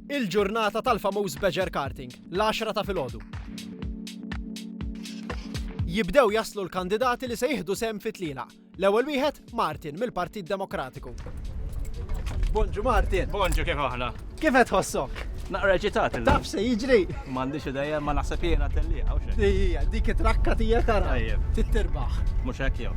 Il-ġurnata tal-famuż Badger Karting, l-għaxra ta' filgħodu. Jibdew jaslu l-kandidati li se jieħdu sehem fi tlielaq. L-ewwel wieħed Martin mill-Partit Demokratiku. Bonġu Martin. Bonġu kif aħna. Kif qed tħossok? Naqra ġitat. Taf se jiġri. M'għandix idea ma naħseb jiena tellieqa. Ija, dik it-trakka tiegħek tara. Tittirbaħ. Mhux hekk jew.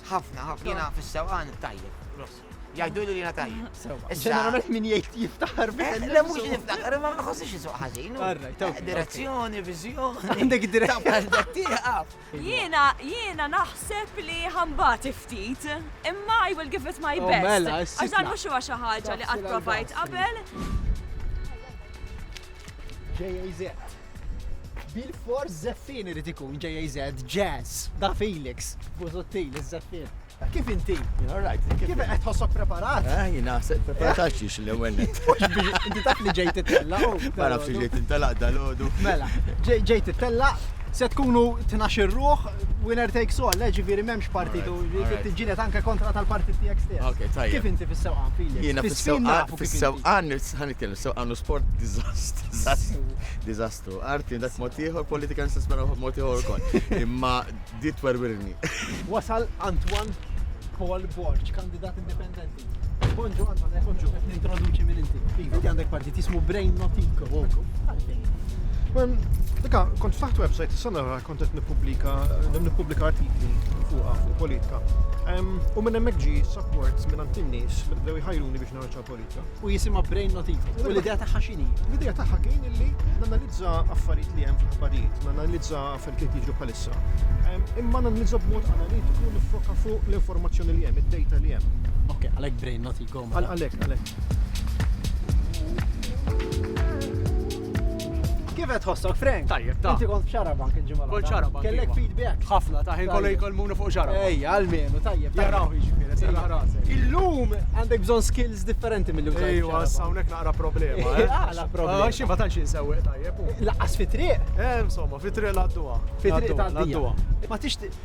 Ħafna, ħafna. Jiena fis-sewqan tajjeb, gross. Jgħidu li jiena tajjeb. Ġeneralment min jgħid jiftaħar eh, biss. Le mhux niftaħar, ma ma ħossix isuq ħażin. Eh, direzzjoni, viżjoni. Għandek direzzjoni. Jiena jiena naħseb li ħambati ftit, imma I will give it my oh, best. Mela, Għażan mhux huwa xi ħaġa li qatt provajt qabel. JAZ. Bil-fors Zeffin irid ikun JAZ, Jazz, da Felix, Buzuttil, iż-Zeffin. Kif inti? Alright. Kif qed tħossok preparat? Eh, jina se preparat għal xiex l-ewwel. Inti taf li ġejt tella. Ma nafx li ġejt tella dal-għodu. Mela, ġejt tella, se tkunu tnax ir-ruħ, winner takes all, le ġifieri m'hemmx partitu, tiġġieled anke kontra tal-partit tiegħek stess. Kif inti fis-sewqan, Felix? Jiena fis-sewqan, fis-sewqan, Sewqan hu sport diżastru. Arti għandha b'mod ieħor, politika nista' nisperawha b'mod ieħor ukoll. Imma di twerwirni. Wasal Antoine Paul Borg, kandidat indipendenti. Bonġu Antoine, bonġu, qed nintroduċi minn inti. Iva. Inti għandek partit jismu Brain Notico. Dika, kont faħt website, s-sana ra kont qed nippubblika, nippubblika artikli fuqa fuq politika. U minn hemmhekk ġi support minn għand in-nies bdew jħajruni biex narċa u jisimha Brain Not Evil. U l-idea tagħha x'inhi? L-idea tagħha kien illi nanalizza affarijiet li hemm fl-aħbarijiet, nanalizza affarijiet li jiġu bħalissa. Imma nanalizza b'mod analitiku nifoka fuq l-informazzjoni li hemm, id-data li hemm. Ok, għalhekk Brain Not Evil. Mela. Għalhekk, għalhekk. Kif qed tħossok, Frank? Tajjeb, ta. Inti kont f'xarabank il-ġimgħa. Kont xarabank. Kellek iva. feedback. Ħafna ta' ħin kollu jkollmuna fuq xarabank. Ejja, għalmenu, tajjeb. Jaraw jiġifieri, se rasek. Illum għandek bżonn skills differenti mill użaj. Ejwa, hawnhekk naqra problema. Eh? Għala problema. Xi ma tantx insewweq tajjeb. Laqqas fi triq. Eh, insomma, fi triq l-għadduha. Fi triq tal-għadduha. Ma tixtieq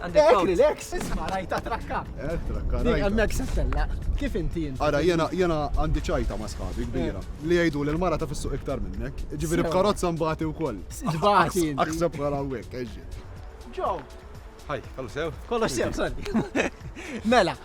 Għandek relax, isma' rajta trakka. Eh, trakka. Li għandek sessella. Kif inti inti? Ara, jena jena għandi ċajta ma' sħabi kbira. Eh. Li jgħidu li l-mara ta' fissu iktar minnek. Ġifieri b'karozza mbagħati wkoll. Ġbati. Aħseb bħala hawnhekk, eġġi. Ġo. Ħaj, kollu sew? Kollu sew, sorry. Mela,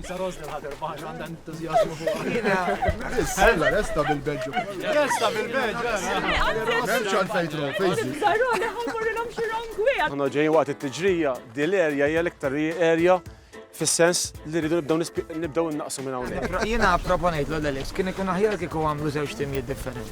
Isa Rose li ħader baħx għandha entużjażmu fuq. Sella resta bil-Belġu. Resta bil-Belġu. Memx għal fejtru, fejzi. Zarone ħammurrilhom xi rongwi. Aħna ġejjin waqt it-tiġrija, di l-erja hija l-iktar erja fis-sens li rridu nibdew nibdew naqsu minn hawnhekk. Jiena proponejt l Alex kien ikun aħjar kieku għamlu żewġ timijiet differenti.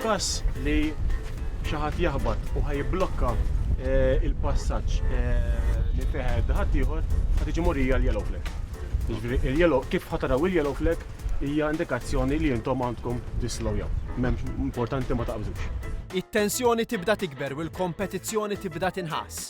F'każ li xi ħadd jaħbat u ħajblokka eh, il-passaġġ eh, li fih ħadd ieħor ħad tiġi morija l-yellow flag. Jiġifieri il-yellow kif ħataraw il-yellow flag hija indikazzjoni li intom għandkom tislowjaw. M'hemmx importanti ma taqbżux. It-tensjoni tibda tikber u l-kompetizzjoni tibda tinħass.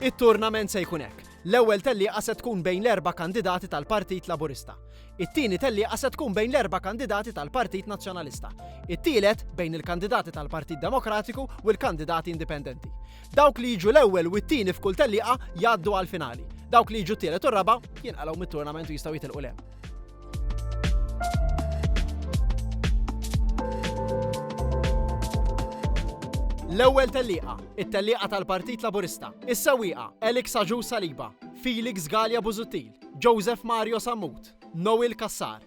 It-turnament se jkun hekk. L-ewwel tellieqa se tkun bejn l-erba' kandidati tal-Partit Laburista. It-tieni tellieqa se tkun bejn l-erba' kandidati tal-Partit Nazzjonalista. It-tielet bejn il-kandidati tal-Partit Demokratiku u l-kandidati indipendenti. Dawk li jiġu l-ewwel u t-tieni f'kull tellieqa jgħaddu għall-finali. Dawk li jiġu t-tielet u r-raba' jinqalgħu mit-turnament u jistgħu jitilqu lem. L-ewwel tellieqa, it-tellieqa tal-Partit Laburista, is-sewwieqa Elik Saġu Saliba, Felix Gallia Buzuttil, Joseph Mario Sammut, Noel Kassar,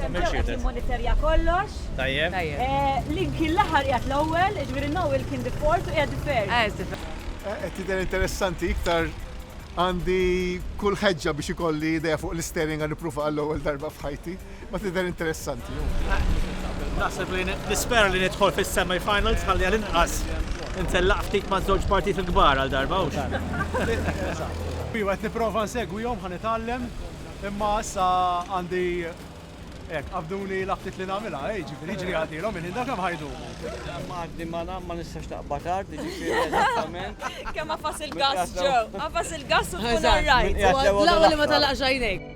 Temmew qed jimmonitorja kollox. Tajjeb. Link kien l-aħħar qiegħed l-ewwel, jiġifieri Noel kien the fourth u qiegħed the third. Ah, the third. Qed tidher interessanti iktar għandi kull ħeġġa biex ikolli idea fuq l-istering għan niprufa għall-ewwel darba f'ħajti, ma tidher interessanti. Naħseb li nispera li nidħol fis-semifinals ħalli għal inqas intellaq ftit ma' żewġ partit il-kbar għal darba u Iwa, qed nipprova nsegwihom ħan itgħallem Imma issa għandi hekk qabduli l-apptit li nagħmilha, ej, ġifieri jiġri għaddielhom il-ħin dak kemm ħajdumu. Għaddi ma nagħmel ma nistax taqbad art, jiġifieri eżattament. Kemm għafas il-gass ġew, għafas il-gass u tkun orrajt. L-ewwel li ma tagħlaqx għajnejk.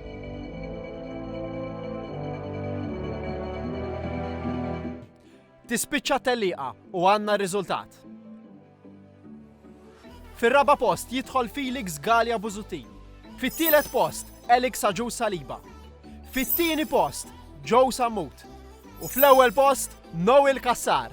Tispiċċa t-tellieqa u għandna r-riżultat. Fir-raba' post jidħol Felix Galea Busuttil. Fit-tielet post Alex Agius Saliba. Fit-tieni post Joe Sammut. U fl-ewwel post Noel Cassar.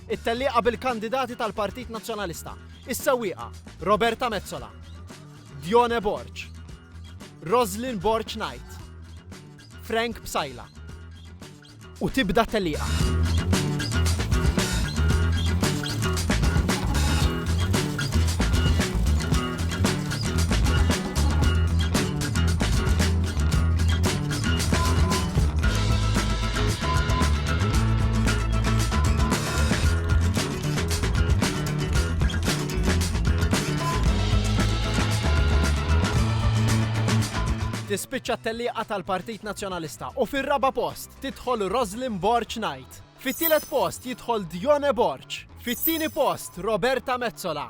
It-tellieqa bil-kandidati tal-Partit Nazzjonalista, is-sewwieqa Roberta Metsola, Dione Borg, Roslyn Borg Knight, Frank Psaila. U tibda t-tellieqa. tispiċċa t-tellieqa tal-Partit Nazzjonalista u fir-raba' post tidħol Roslyn Borċ Knight. Fit-tielet post jidħol Dione Borċ. Fit-tieni post Roberta Mezzola.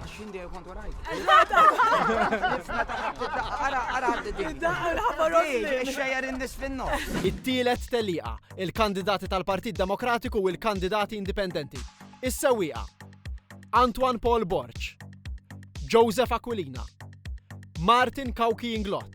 Għaxin dejjem kont warajk. Ara, ara, xejjer indis finno. It-tielet telliqa, il-kandidati tal-Partit Demokratiku u l-kandidati indipendenti. Is-sewwieqa. Antoine Paul Borċ. Joseph Aquilina. Martin Kawki Inglot.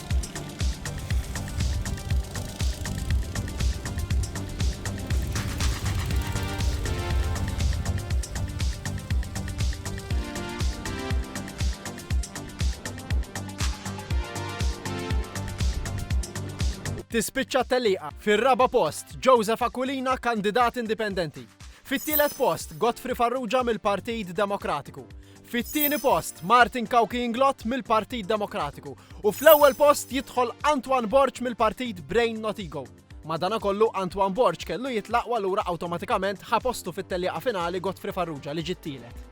Tispiċċa t-tellieqa. Fir-raba' post, Joseph Aquilina, kandidat indipendenti. Fit-tielet post, Godfrey Farrugia mill-Partit Demokratiku. Fit-tieni post, Martin Cauchi Inglott mill-Partit Demokratiku u fl-ewwel post jidħol Antoine Borg mill-Partit Brain Not Ego. Madanakollu Antoine Borg kellu jitlaq u allura awtomatikament ħa postu fit-tellieqa finali Godfrey Farrugia li ġie t-tielet.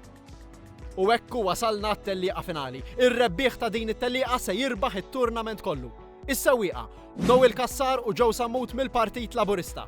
U hekk hu wasalna għat-tellieqa finali. Ir-rebbieħ ta' din it-tellieqa se jirbaħ it-turnament kollu. Is-sewwieqa, Noel Cassar u Joe Sammut mill-Partit Laburista.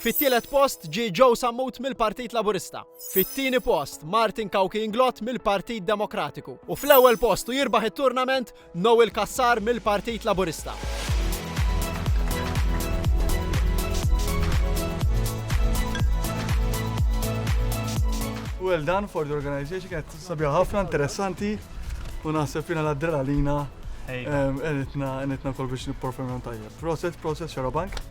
Fit-tielet post ġie Joe Sammut mill-Partit Laburista. Fit-tieni post, Martin Cauchi Inglott mill-Partit Demokratiku. U fl-ewwel post u jirbaħ it-turnament Noel Cassar mill-Partit Laburista. Well done for the organization, kienet sabiħa ħafna, interessanti, u naħseb fina l-adrenalina, għeditna għeditna kol biex niperformjon tajjeb. Proset, proset, xarabank.